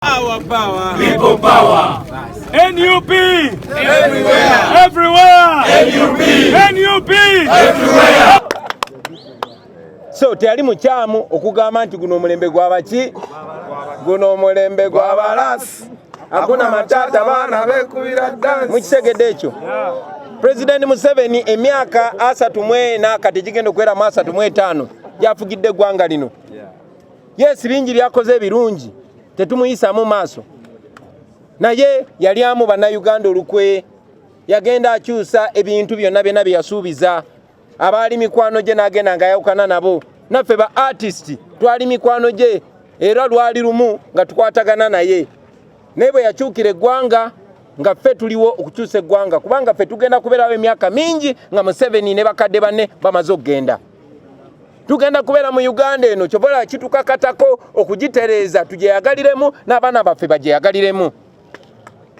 Power, power. People power. NUP everywhere. Everywhere. NUP. NUP everywhere. So teyali mukyamu okugamba nti guno omulembe gwabaki guno omulembe gwabalasi akuna matata baana bekubira dansi mukitegedde ekyo President Museveni emyaka asatu mwena kati gigenda okuweramu asatu mwetaano gyafugidde eggwanga lino Yes, bingi byakoze ebirungi tetumuyisamu maaso, naye yalyamu bannayuganda olukwe. Yagenda akyusa ebintu byonna byonna bye yasuubiza. Abaali mikwano gye n'agenda nga yawukana nabo. Naffe ba artist twali mikwano gye era lwali lumu nga tukwatagana naye, naye bwe yakyukira eggwanga nga ffe tuliwo okukyusa eggwanga kubanga ffe tugenda kubeerawo emyaka mingi nga Museveni ne bakadde banne bamaze okugenda. tugenda kubeera mu uganda eno kyobola kitukakatako okugitereeza tugyeyagaliremu n'abaana baffe bagyeyagaliremu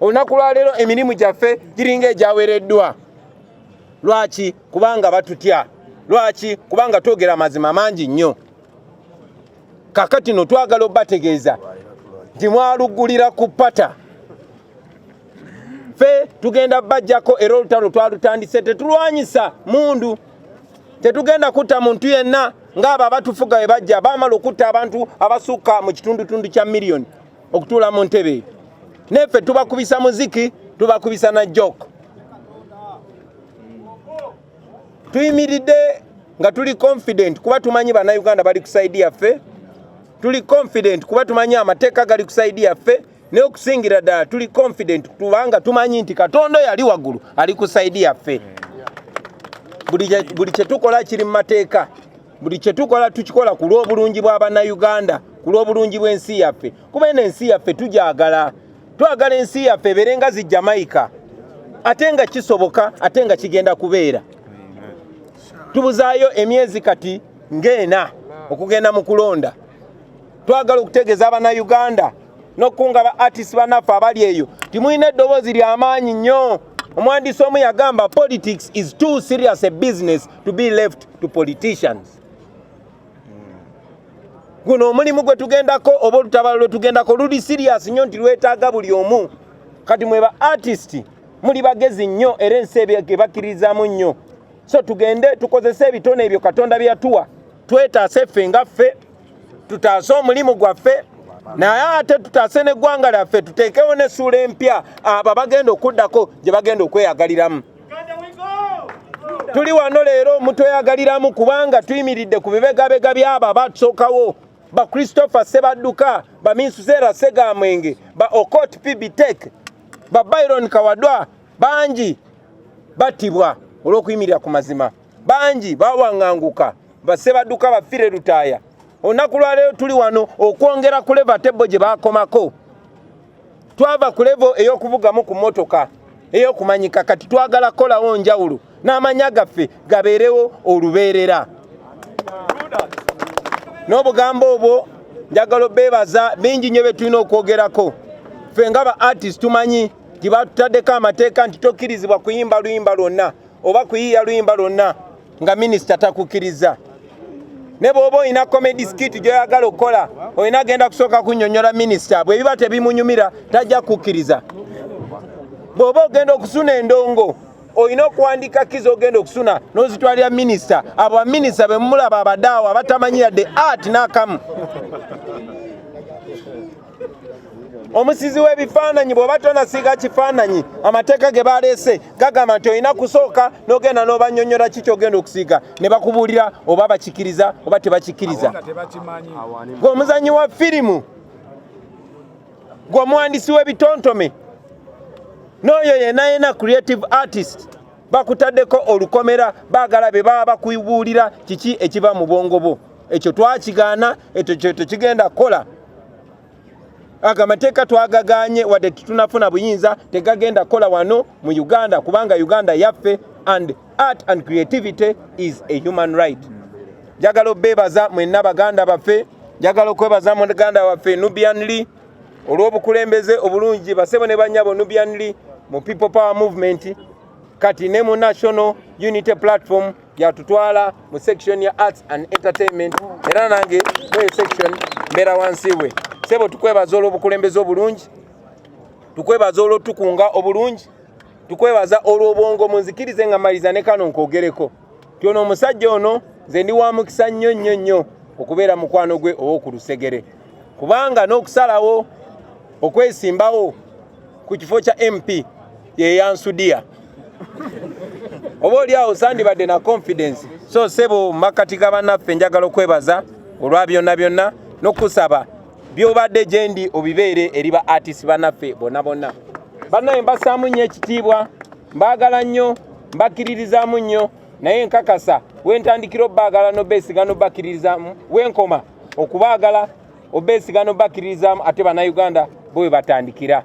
olunaku lwaleero emirimu gyaffe giringa egyawereddwa lwaki kubanga batutya lwaki kubanga twogera amazima mangi nnyo kakati no twagala obategeeza nti mwaluggulira ku pata ffe tugenda bajjako era olutalo twalutandise tetulwanyisa mundu tetugenda kutta muntu yenna ng'abo abatufuga we bajja baamala okutta abantu abasukka mu kitundutundu kya miliyoni okutuula mu ntebe eyo neffe tubakubisa muziki tubakubisa na jok tuyimiridde nga tuli confident kuba tumanyi bannayuganda bali ku saidi yaffe tuli confident kuba tumanyi amateeka gali ku saidi yaffe naye okusingira ddala tuli confident kubanga tumanyi nti katonda yali waggulu ali ku saidi yaffe buli kyetukola kiri mu mateeka buli kyetukola tukikola ku lw'obulungi bwa bannayuganda ku lw'obulungi bw'ensi yaffe kuba eno ensi yaffe tugyagala twagala ensi yaffe ebeere nga zi jamaica ate nga kisoboka ate nga kigenda kubeera tubuzaayo emyezi kati ng'ena okugenda mu kulonda twagala okutegeeza abanauganda nokukunga ba artist banaffe abali eyo timulina eddoboozi lyamaanyi nnyo omwandiisi omu yagamba politics is too serious a business to be left to politicians guno omulimu gwe tugendako oba olutabalo lwe tugendako luli serious nnyo nti lwetaaga buli omu kati mwe ba artist muli bagezi nnyo era ensi ebakirizamu nnyo so tugende tukozese ebitone ebyo katonda byeyatuwa twetaase ffe nga ffe tutaase omulimu gwaffe naye ate tutaase n'eggwanga lyaffe tuteekewo n'essuula empya abo abagenda okuddako gye bagenda okweyagaliramu tuli wano leero omutweyagaliramu kubanga tuyimiridde ku bibegabega byabo abatusookawo ba christopher sebadduka ba minsuseera segamwenge ba okot pbtek ba byron kawadwa bangi battibwa olw'okuyimirira ku mazima bangi bawanganguka basebaduka bafire lutaaya olunaku lwaleero tuli wano okwongera ku leva tebbo gye bakomako twava ku levo ey'okuvugamu ku mmotoka ey'okumanyika kati twagala kukolawo njawulo n'amanya gaffe gabeerewo olubeerera n'obugambo obwo njagala obeebaza bingi nnyo bye tulina okwogerako ffe nga ba artist tumanyi nti batutaddeko amateeka nti tokkirizibwa kuyimba luyimba lwonna oba kuyiiya luyimba lwonna nga minisita takukkiriza ne bwoba olina comedy skit gyoyagala okukola olina agenda kusooka kunyonyola minisita bwe biba tebimunyumira tajja kukkiriza bwoba ogenda okusuna endongo olina okuwandika kiza ogenda okusuna nozitwalira minisita abo baminisita bemumulaba abadaawo abatamanyi yadde art nakamu omusizi w'ebifaananyi bw'oba tonasiiga kifaananyi amateeka ge baleese gagamba nti olina kusooka n'ogenda n'obanyonyola ki kyogenda okusiiga ne bakubuulira oba bakikiriza oba tebakikiriza gwe omuzanyi wa firimu gwe omuwandisi w'ebitontome n'oyo yenayena creative artist bakutaddeko olukomera baagala be baba bakubuulira kiki ekiva mu bwongo bwo ekyo twakigaana ekyo kyeto kigenda kukola ago amateeka twagagaanye wadde tetunafuna buyinza tegagenda kukola wano mu uganda kubanga uganda yaffe and art and creativity is a human right njagala obeebaza mwenna baganda baffe njagala okwebaza muganda waffe nubian lee olw'obukulembeze obulungi basebo ne banyabo nubianly mu people power movement kati ne mu national unity platform yatutwala mu section ya arts and entertainment era nange mweyo section mbeera wansi we sebo tukwebaza olw'obukulembeze obulungi tukwebaza olw'otukunga obulungi tukwebaza olw'obwongo munzikirize nga maliza ne kano nkogereko nti ono omusajja ono nze ndi wa mukisa nnyo nnyo nnyo okubeera mukwano gwe ow'oku lusegere kubanga n'okusalawo okwesimbawo ku kifo kya mp yeyansudiya oba oli awo sandibadde na confidence so sebo mu makkati ga bannaffe njagala okwebaza olwa byonna byonna n'okusaba byobadde gyendi obibeere eri ba artist banaffe bona bona banaye mbasaamu nnyo ekitiibwa mbaagala nnyo mbakkiririzaamu nnyo naye nkakasa wentandikira obaagala nobeesiga nobakkiririzaamu wenkoma okubaagala obeesiga nobakkiririzaamu ate banauganda bwe batandikira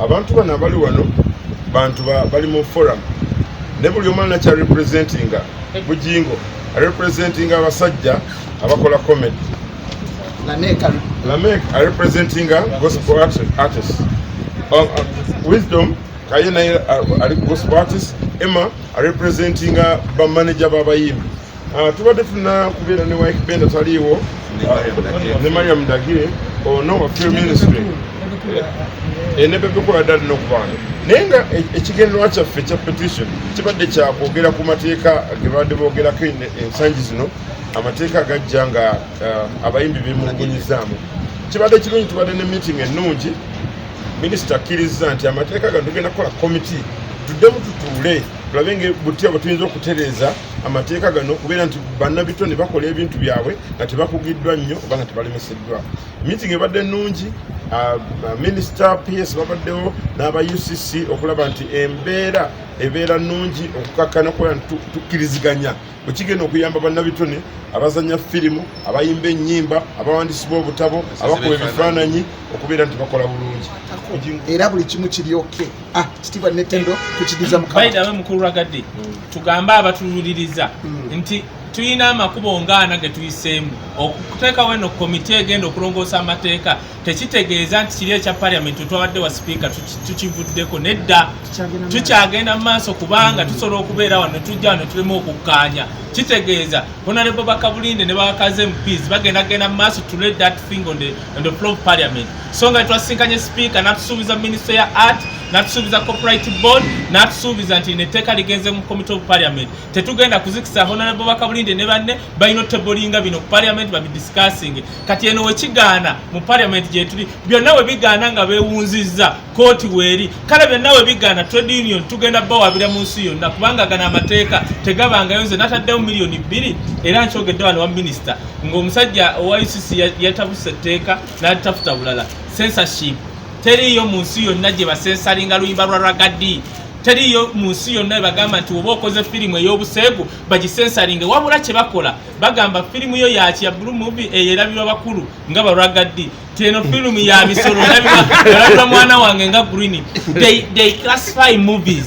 Abantu bano abali wano bantu bali mu forum ne buli omu alina kyarepresentinga bujingo arepresentinga abasajja abakola comedy lamek arepresentinga gospel artist uh, uh, wisdom kaye naye uh, ali gospel artist emma arepresentinga bamanaja babayimbi Ah, tubadde tulina kubeera ne wike benda taliiwo ah, ne mariam dagire ono oh, wa film ministry eh, ne bebekola ddali n'okubaana naye nga e, ekigendererwa kyaffe ekya petition kibadde kyakwogera ku mateeka ge babadde boogerako ensangi zino amateeka gajja nga ah, abayimbi bemulugunyizaamu kibadde kirungi tubadde ne meeting ennungi minisita akkirizza nti amateeka gano tugenda kukola komiti tuddemu tutuule tulabe nga butya bwe tuyinza okutereeza amateeka gano okubeera nti bannabitone bakola ebintu byabwe nga tebakugiddwa nnyo oba nga tebalemeseddwa meeting ebadde nnungi ah, ah, minister ps babaddewo n'aba ucc okulaba nti embeera ebeera nnungi okukakkana okubeera nti tukkiriziganya bwekigenda okuyamba bannabitone abazanya firimu abayimba ennyimba abawandiisi b'obutabo abakuba ebifaananyi okubeera nti bakola bulungi era buli kimu kiryoke ah, kitiibwa netendo tukidiza mukama tugambe abatululiriza hmm. nti tulina amakubo ngaana ge tuyiseemu okuteekawo eno komiti egenda okulongoosa amateeka tekitegeeza nti kiri ekya paliamenti twabadde wa sipiika tukivuddeko nedda tukyagenda mu maaso kubanga hmm. tusobola okubeera wano tujja wano tulemu okukkaanya kitegeeza honarebo bakabulinde ne bakaze mps bagenda genda mu maaso to let that thing on the, on the floor of parliament so nga twasisinkanye sipiika n'atusuubiza minisitule ya art n'atusuubiza copyright board n'atusuubiza nti netteeka ligenze mu committe of parliament tetugenda kuzikisa honorable bakabulinde ne banne balina otebolinga bino ku parliament babidiscussinge kati eno wekigaana mu parliament gyetuli byonna we bigaana nga bewunzizza kooti weeri kale byonna we bigaana trade union tugenda bawabira mu nsi yonna kubanga gana amateeka tegabangayo nze nataddewo miliyoni bbiri era nkyogedde wano wa minisita ng'omusajja owa ucc yatabuse etteeka natafuta bulala censorship teriiyo mu nsi yonna gye basensalinga luyimba lwa ragadi teriiyo mu nsi yonna ebagamba nti oba okoze firimu ey'obuseegu bagisensalinge wabula kye bakola bagamba firimu yo yaki ya blue movie eyo erabirwa bakulu nga baragadi ti eno firimu ya misolo erabirwa mwana wange nga green they, they classify movies